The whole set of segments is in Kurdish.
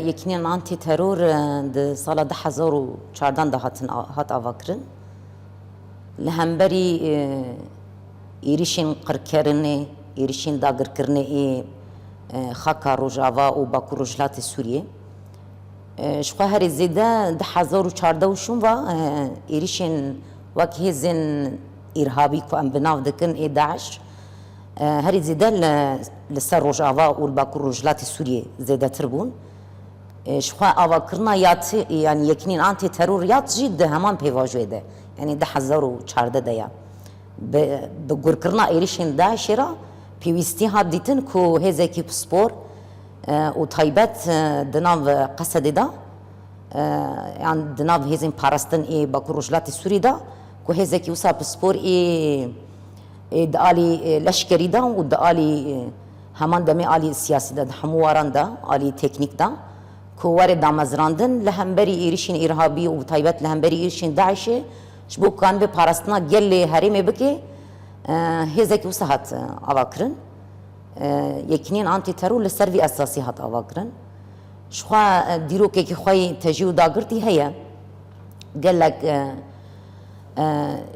Yekînên Antîteror di sala du hezar û çardan de hatin hat avakirin. Li hemberî êrîşên qirkirinê, êrîşên dagirkirinê ê xaka Rojava û Bakur Rojhilatê Sûriyê ji xwe herî zêde du hezar û çardeh û şûn ve êrîşên wek hêzên îrhabî ku em bi nav dikin ê DAIŞ, Herî zêde li ser Rojava û li Bakur Rojhilatê Sûriyê zêdetir bûn. Ji xwe avakirina yanî yekînên antî teror yat jî di heman pêvajoyê de yanî du hezar û çardeh de ye. Bi bi gurkirina êrîşên DAIŞ'ê re pêwîstî hat dîtin ku hêzekî pispor û taybet di nav Qesedê de yan di nav hêzên parastin ê Bakur Rojhilatê Sûriyê de ku hêzekî wisa pispor ê Di alî leşkerî de û di alî heman demê alî siyasî de di hemû waran de alî teknîk de ku were damezrandin li hemberî êrişên îrhabî û bi taybet li hemberî êrişên DAIŞ'ê ji bo ku an bi parastina gelê herêmê bike hêzekî wisa hat avakirin Yekîneyên Antîteror li ser vî esasî hat avakirin jixwe dîrokekî xwe yê tejî û dagirtî heye gelek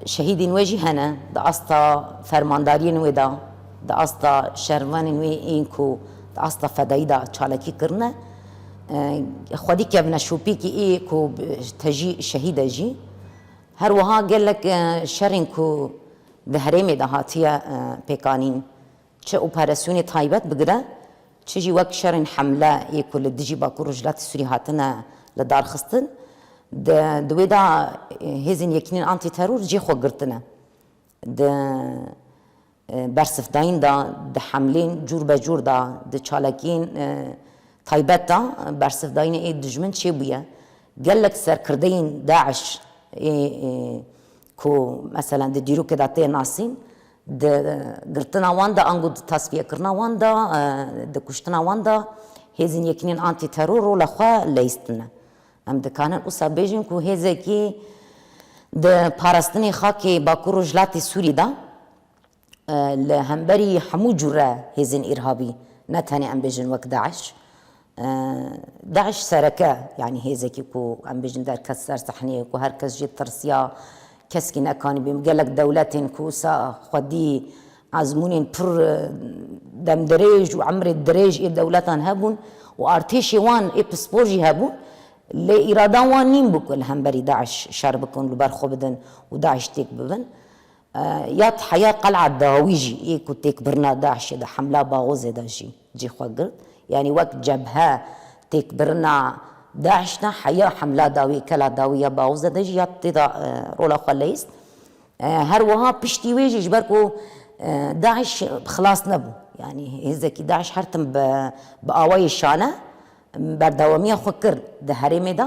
Şehîdên wê jî hene di asta fermandariyên wê de, di asta şervanên wê yên ku di asta fedayî de çalakî kirine. Xwedî kevine şopîkê ê ku te jî şehîd e jî. Her wiha gelek şerên ku di herêmê de hatiye pêkanîn, Çi operasyonê taybet bigire, çi jî wek şerên hemle yê ku li dijî Bakur Rojhilatê Sûrî hatine li dar xistin, di wê de hêzên Yekînên Antîteror cê xwe girtine. Di bersifdayîn de, di hemlên cûr be cûr de, di çalakiyên taybet de bersifdayînê ê dijmin çêbûye. Gelek serkirdeyên DAIŞ ê ku meselen di dîrokê de tê nasîn, Di girtina wan de ango di tasfiyekirina wan de, di kuştina wan de hêzên Yekînên Antîteror rola xwe leyistine. Em dikarin wisa bêjin ku hêzekî di parastinê xakê Bakur Rojhilatê Sûrî de li hemberî hemû cure hêzên îrhabî ne tenê em bêjin wek DAIŞ Daiş sereke, yanî hêzekî ku em bêjin derket ser sehneyê, ku her kes jê tirsiya, keskî nekanîbû yên, gelek dewletên ku wisa xwedî ezmûnên pir demdirêj û emrê dirêj ê dewletan hebûn û artêşê wan ê pispor jî hebûn, lê îrada wan nîn bû ku li hemberî daiş şer bikin û li ber xwe bidin û daiş têk bibin. Yad heya Qel'a Dawî jî yê ku têkbirina DAIŞ'ê di Hemla Baghozê de jî cî xwe girt. Yanî wek cebhe têkbirina DAIŞ ne heya Hemla Dawî, Kela Dawî ya Baghozê de jî yad tê de rola xwe leyist. Her wiha piştî wê jî ji ber ku DAIŞ xilas nebû. Yanî hêzekî DAIŞ her tim bi awayê şane berdewamiya xwe kir di herêmê de.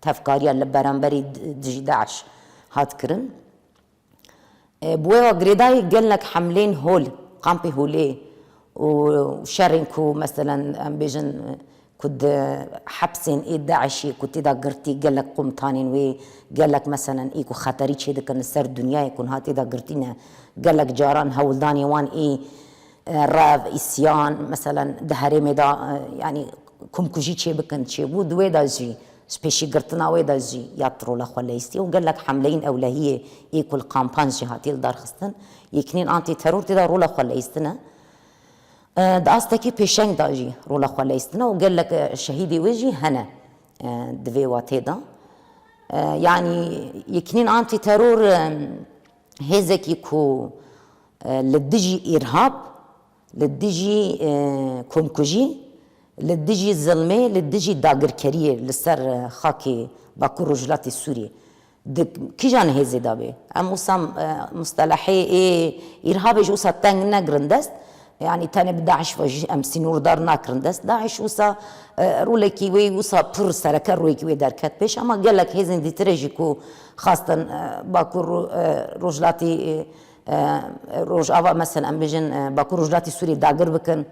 Tevkariya li beramberî dijî DAIŞ hat kirin. Bi wê ve girêdayî gelnek hemlên hol, kampê holê û şerên ku meselen em bêjin ku di hepsên ê DAIŞ'ê ku tê de girtî gelek komutanên wê, gelek meselen ê ku xeterî çêdikin li ser dinyayê ku niha tê de girtî ne, gelek caran hewldanên wan ê rev, îsyan, meselen di herêmê de yanî komkujî çêbikin çêbû, di wê de jî ji pêşîgirtina wê de jî ya trola xwe leyîstî û gelek hemleyên ewlehiyê yê ku li kampan jî hatiye lidarxistin, yekînên antîteror tê de rola xwe leyîstin e. Di astekî pêşeng de jî rola xwe leyîstin e û gelek şehîdê wê jî hene di vê watê de. Yanî yekînên antîteror Hêzekî ku li dijî îrhab, li dijî komkujî, li dijî zilmê, li dijî dagirkeriyê li ser xakê Bakur Rojhilatê Sûriyê di kîjan hêzê de bê? Em wisa mustelehê ê îrhabê ji wisa teng negirin dest, Yanî tenê bi DAIŞ ve jî em sînor dar nakirin dest. DAIŞ wisa rolekî wê wisa pir sereke royekî wê derket pêş. Hema gelek hêzên dîtire jî ku xwestin Bakur Rojhilatî Rojava mesel em bijin Bakur Rojhilatî Sûriyê dagir bikin,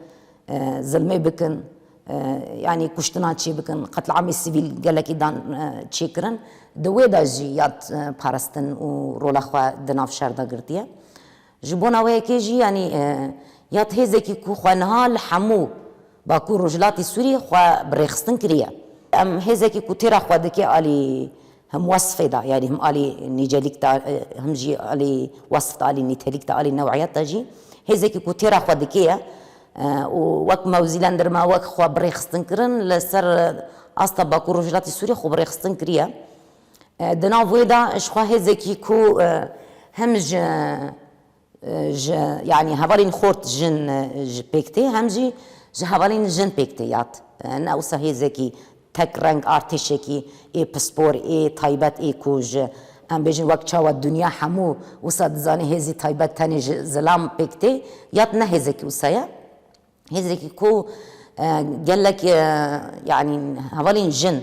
zilmê bikin yanî kuştinan çê bikin, qetliamê sivîl gelekî dan çê kirin. Di wê de jî yad paristin û rola xwe di nav şer de girtiye. Ji bona wê yekê jî yanî ya di hêzekî ku xwe niha li hemû Bakur Rojhilatê Sûriyê xwe bi rêxistin kiriye. Em hêzekî ku têra xwe dike alî him wesfê de yanî him alî nîcelîk de him jî alî wesf de alî nîtelîk de alî new'iyet de jî hêzekî ku têra xwe dike ye û wek mewzîlendirme wek xwe bi rêxistin kirin li ser asta Bakur Rojhilatê Sûriyê xwe bi rêxistin kiriye. Di nav wê de ji xwe hêzekî ku hem ji ji yanî hevalên xort jin pêk tê hem jî ji hevalên jin pêk tê ya ne wisa hêzekî tek reng artêşekî ê pispor ê taybet ê ku ji em bêjin wek çawa dinya hemû wisa dizane hêzî taybet tenê ji zilam pêk tê ya ne hêzekî wisa ye. Hêzekî ku gelek yanî hevalên jin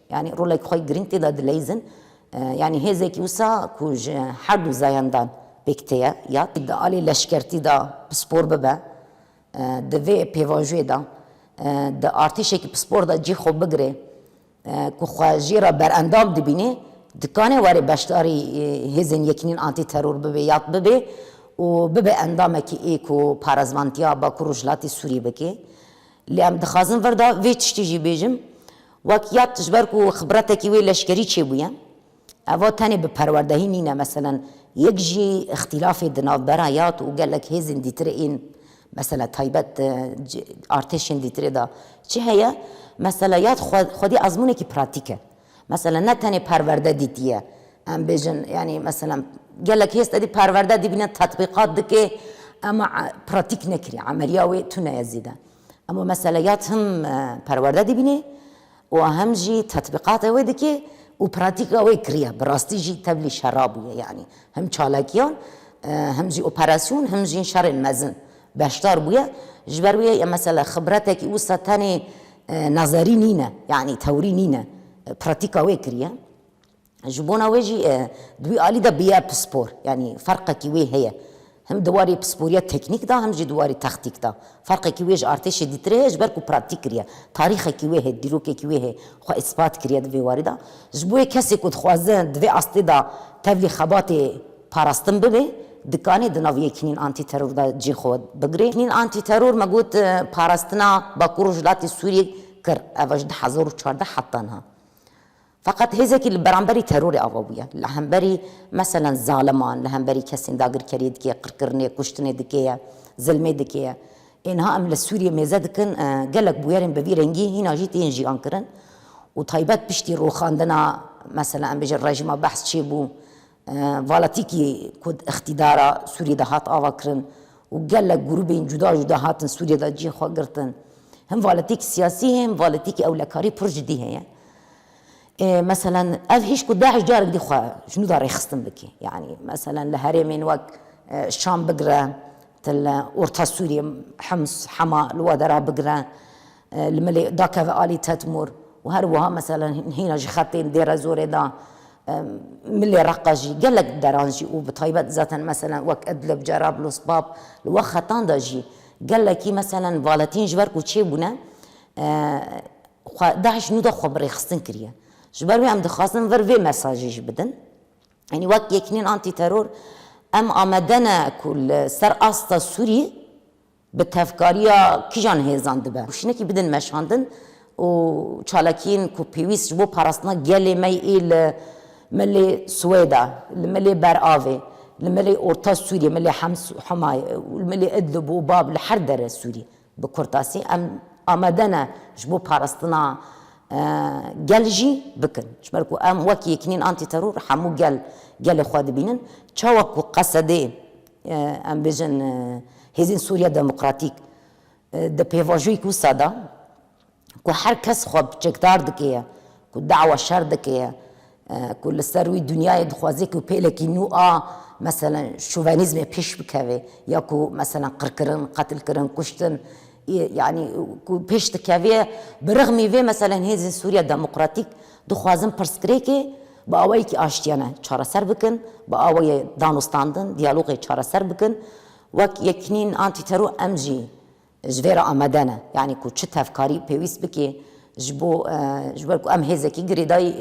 Yanî rolek xwe girîng tê de dileyzin. Yanî hêzekî wisa ku ji her du zayandan pêk tê ye ya di aliyê leşkertî de pispor bibe, di vê pêvajoyê de di artêşekî pispor de cî xwe bigirê ku xwe jê re berendam dibînê, dikanê were beşdarî hêzên Yekînên Antîteror bibê ya bibê û bibe endamekî ê ku parezvantiya Bakur Rojhilatê Sûriyê bike. Lê em dixwazin vir de vê tiştî jî bêjim, Wek yad ji ber ku xibretekî wê leşkerî çêbûye, eva tenê bi perwerdehî nîne meselen yek jî îxtîlafê di navbera yad û gelek hêzên dîtirê ên mesela taybet artêşên dîtirê de çi heye mesela yad xwedî ezmûnekî pratîk e. Mesela ne tenê perwerde dîtiye em bêjin yanî mesela gelek hêz tedî perwerde dîbîne tetbîqat dike ema pratîk nekiriye emeliya wê tune ye zêde. Em û mesele ya tim perwerde dibînê û hem jî tetbîqatê wê dikê û pratîka wê kiriye. Bi rastî jî tevlî şera bûye yanî him çalakiyan him jî operasyon him jî şerên mezin beşdar bûye. Ji ber wê ye mesele xibretekî wisa tenê nezerî nîne yanî tewrî nîne pratîka wê kiriye. Ji bona wê jî di wî alî de bûye pispor. Yanî ferqekî wê heye. Him di warê pisporiya teknîk de him jî di warê textîk de. Ferqekî wê ji artêşê dîtir heye ji ber ku pratîk kiriye. Tarîxekî wê hê, dîrokekî wê hê xwe îspat kiriye di vê warî de. Ji bo wê kesê ku dixwaze di vê astê de tevlî xebatê parastin bibe, dikanê di nav yekînên antîteror de cihê xwe bigire. Yekînên antîteror me got parastina Bakur Rojhilatê Sûriyê kir. Ev e ji du hezar û çardeh heta niha. Feqet hêzekî li beramberî terorê ava bûye. Li hemberî meselen zaliman, li hemberî kesên dagirkeriyê dikê, qirkirinê, kuştinê dikê ye, zilmê dikê ye. Ê niha em li Sûriyê mêze dikin gelek bûyerên bi vî rengî hîna jî tên jiyankirin û taybet piştî rûxandina, meselen em bêjin rejîma behs çêbû, Valetîkî ku di îqtîdara Sûriyê de hat avakirin û gelek grûbên cuda cuda hatin Sûriyê de cihê xwe girtin. Him valetîkî siyasî heye him valetîkî ewlekarî pir cidî heye. Ê meselen ev hêj ku DAIŞ carek dî xwe ji nû de rêxistin bike. Yanî meselen li herêmên wek Şam bigire til Orta Sûriyê Hims, Hema li we de re bigire. Li milê dakeve alî Tetmûr û her wiha meselen hîna ji xetên Dêrezorê de milê Reqqa jî gelek deran jî û bi taybet zaten meselen wek Idlib, Cerablus, Bab li we xetan de jî gelekî meselen valetîn ji ber ku çê bûne xwe DAIŞ nû de xwe bi rêxistin kiriye. Ji ber wê em dixwazin vir vê mesajê jî bidin. Yanî wek Yekînên Antîteror em amade ne ku li ser asta Sûrî Bi tevkariya kîjan hêzan dibe hişnekî bidin meşandin û çalakiyên ku pêwîst ji bo parastina gelê me yê li Milê Swêda, li Milê Beravê, li Milê Orta Sûriyê, Milê Hemayê, li Milê Idlib û Bab li her dere Sûriyê bi kurtasî em amade ne ji bo parastina gel jî bikin. Ji ber ku em wek Yekînîn Antî Teror hemû gel gelê xwe dibînin. Çawa ku qesedê Em bêjin Hêzên Sûriya Demokratîk di pêvajoyek wisa de ku her kes xwe çekdar dike ye ku dawa şer dike ye ku li ser wî dinyayê dixwaze ku pêlekî nû a meselen şovenîzmê pêş bikeve ya ku meselen qirkirin, qetilkirin, kuştin yanî ku pêş dikeve ye. Bi rixmî vê meselen Hêzên Sûriya Demokratîk dixwazin pirsgirêkê Bi awayekî aştiyane çareser bikin, bi awayê danûstandin, diyalogê çareser bikin. Wek Yekînîn Antîtero em jî ji vê re amade ne. Yanî ku çi tevkarî pêwîst bike ji bo ji ber ku em hêzekî girêdayî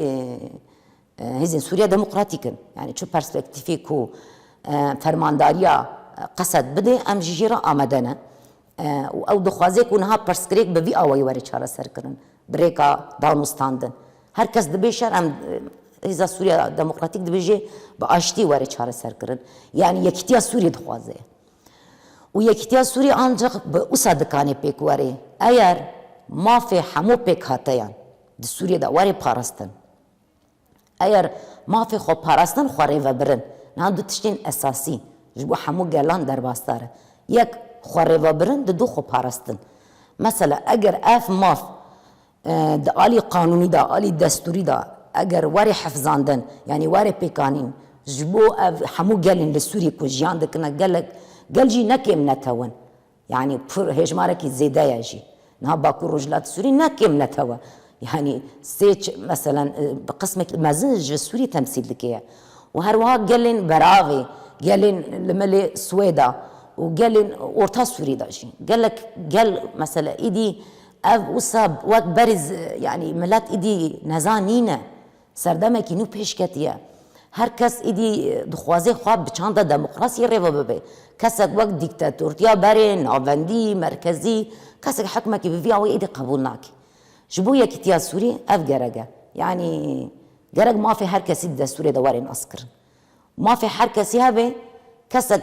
hêzên Sûriya Demokratîk in. Yanî çi perspektîfê ku fermandariya qesed bide em jî jê re amade ne. û ew dixwaze ku niha pirsgirêk bi vî awayî were çareserkirin, bi rêka danûstandin. Her kes dibê şer em Hêza Sûriya Demokratîk dibêje bi aştî were çareserkirin. Yanî yekîtiya Sûriyê dixwaze. Û yekîtiya Sûriyê ancik bi wisa dikanê pêk were eyer mafê hemû pêkhateyan di Sûriyê de were parastin. Eger mafê xweparastin xwe rê vebirin, niha du tiştên esasî ji bo hemû gelan derbasdar e. Yek, xwerêvebirin di du xweparastin. Mesela eger ev maf di alî qanûnî de, alî destûrî de eger were hefzandin yanî were pêkanîn ji bo ev hemû gelên li Sûriyê ku jiyan dikine gelek gel jî ne kêm ne tewin. Yanî pir hêjmarekî zêde ye jî. Niha Bakur Rojhilatê Sûrî ne kêm ne tewe. Yanî sê meselen bi qismekî mezin ji Sûrî temsîl dike ye. Û her wiha gelên beravê, gelên li milê Swêda û gelên Orta Sûrî de jî. Gelek gel mesele îdî ev wisa wek berî yanî milet îdî neza nîne. Serdemekî nû pêş ketiye. Her kes êdî dixwaze xwe bi çanda demokrasiyê rê ve bibe. Kesek wek dîktatortiya berê, navendî, merkezî, kesek hikmekî bi vî awê êdî qebûl nake. Ji bo Yekîtiya Sûrî ev gerek e. Yanî gerek mafê her kesî di destûrê de were naskirin. Mafê her kesî hebe, kesek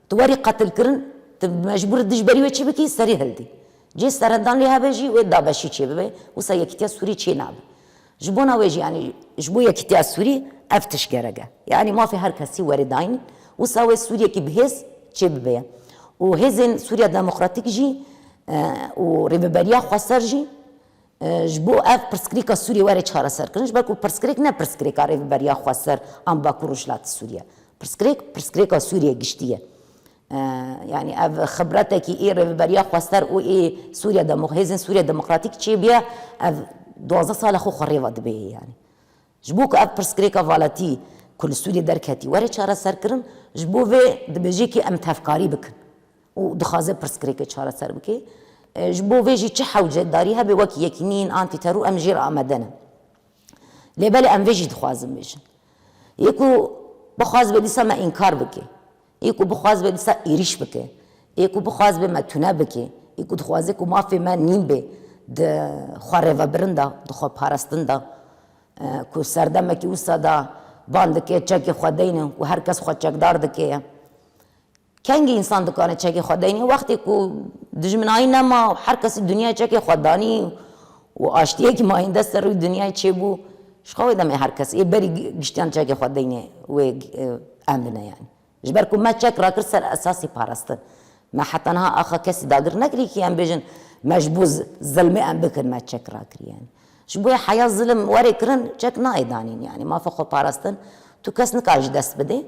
Tu werî qetilkirin, tu mecbûr î dij berî wê çi bikî, serî hildî. Cih serendan lê hebe jî wê Dabeşî çêbibe, wisa Yekîtiya Sûrî çênabe. Ji bona wê jî yanî ji bo Yekîtiya Sûrî ev tişt gerek e. Yanî mafê her kesî werî dayîn î. Wisa wê Sûriyekî bi hêz çêbibe ye. Û hêzên Sûriya Demokratîk jî û Rêveberiya Xweser jî Ji bo ev pirsgirêka Sûriyê were çareserkirin, ji ber ku pirsgirêk ne pirsgirêka Rêveberiya Xweser an Bakur Rojhilatê Sûriyê ye. Pirsgirêk, pirsgirêka Sûriyê giştî ye. Yanî ev xibretekî ê Rêveberiya Xweser û ê Sûriya Demo, Hêzên Sûriya Demokratîk çêbûye, ev duwazdeh sal e xwe xwe rêva dibêje yanî. Ji bo ku ev pirsgirêka valetî ku li Sûriyê derketî were çareserkirin, ji bo vê dibêje kê em tevkarî bikin û dixwaze pirsgirêkê çareser bike. Ji bo vê jî çi hewce darî hebe wek Yekînîyên Antîteror em jê re amade ne. Lê belê em vê jî dixwazin bêjin. Yê ku bixwaze be dîsa me înkar bike. Ê ku bixwaz be disa êrîş bike. Ê ku bixwaz be me tune bike. Ê ku dixwaze ku mafê me nîn bê di xwe rêvebirin de, di xwe parastin de. Ku serdemekî wisa de van dike çekê xwe deyne û her kes xwe çekdar dike ye. Kengî însan dikare çekê xwe deyne wextê ku dijminayî nema û her kesî dinyayê çekê xwe danî. Û aştiyekî mayîndest ser rûyê dinyayê çêbû, ji xwe wê demê herkes ê berî giştiyan çekê xwe deynê wê em bine yanî. Ji ber ku me çek rakir ser esasî parastin. Me heta niha axa kesî dagir nekiriye kî em bêjin me ji bo zilmê em bikin me çek rakiriye yanî. Ji bo heya zilm were kirin çek nayê danîn yanî. Mafa xweparastin tu kes nikare ji dest bidê.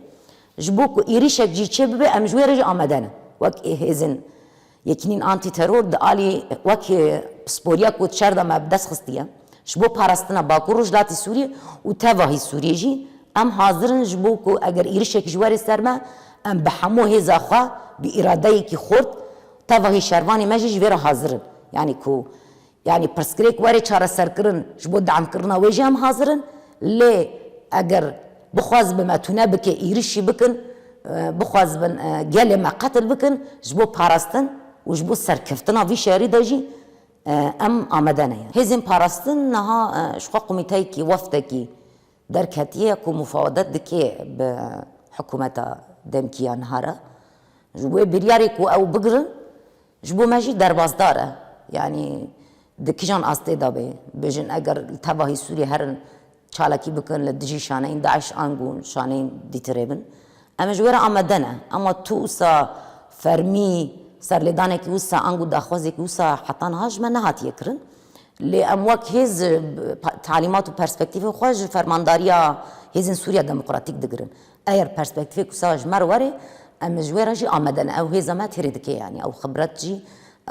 Ji bo ku êrîşek jî çêbibe em ji wê re jî amede ne. Wek hêzên. Yekînîn Antîteror di alî wek pisporiya ku di şer de me bi dest xistiye ji bo parastina Bakur Rojhilatê Sûriyê û tevahî Sûriyê jî em hazir in ji bo ku eger êrişek ji were ser me em bi hemû hêza xwe bi îradeyekî xurt tevahî şervanê me jî ji vê re hazir in yanî ku Yanî pirsgirêk were çareserkirin ji bo deamkirina wê jî em hazir in, lê eger bixwazibe me tune bike êrişî bikin, bixwazibin gelê me qetil bikin ji bo parastin û ji bo serkeftina vî şerî de jî em amade ne. Hêzên parastin niha ji xwe komîteyekî, wefdekî derketiye ku mufawedet dike bi hikûmeta demkî ya niha re ji wê biryarê ku ew bigirin. Ji bo me jî derbasdar e. Yanî di kijan astê de bê bêjin eger li tevahî Sûriyê herin çalakî bikin li dijî şaneyên DAIŞ angu şaneyên dîtirê bin em ê ji wê re amade ne. Ema tu wisa fermî serlêdanekî wisa angu daxwazekî wisa heta niha ji me nehatiye kirin. Lê em wek hêz talîmat û perspektîfên xwe ji fermandariya hêzên Sûriya Demokratîk digirin. Eger perspektîfê ku sa ji me re were, em ji wê re jî amade ne. Ew hêza me têrê dike yanî ew xibret jî,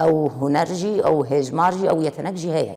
ew huner jî, ew hêjmar jî, ew yetenek jî heye.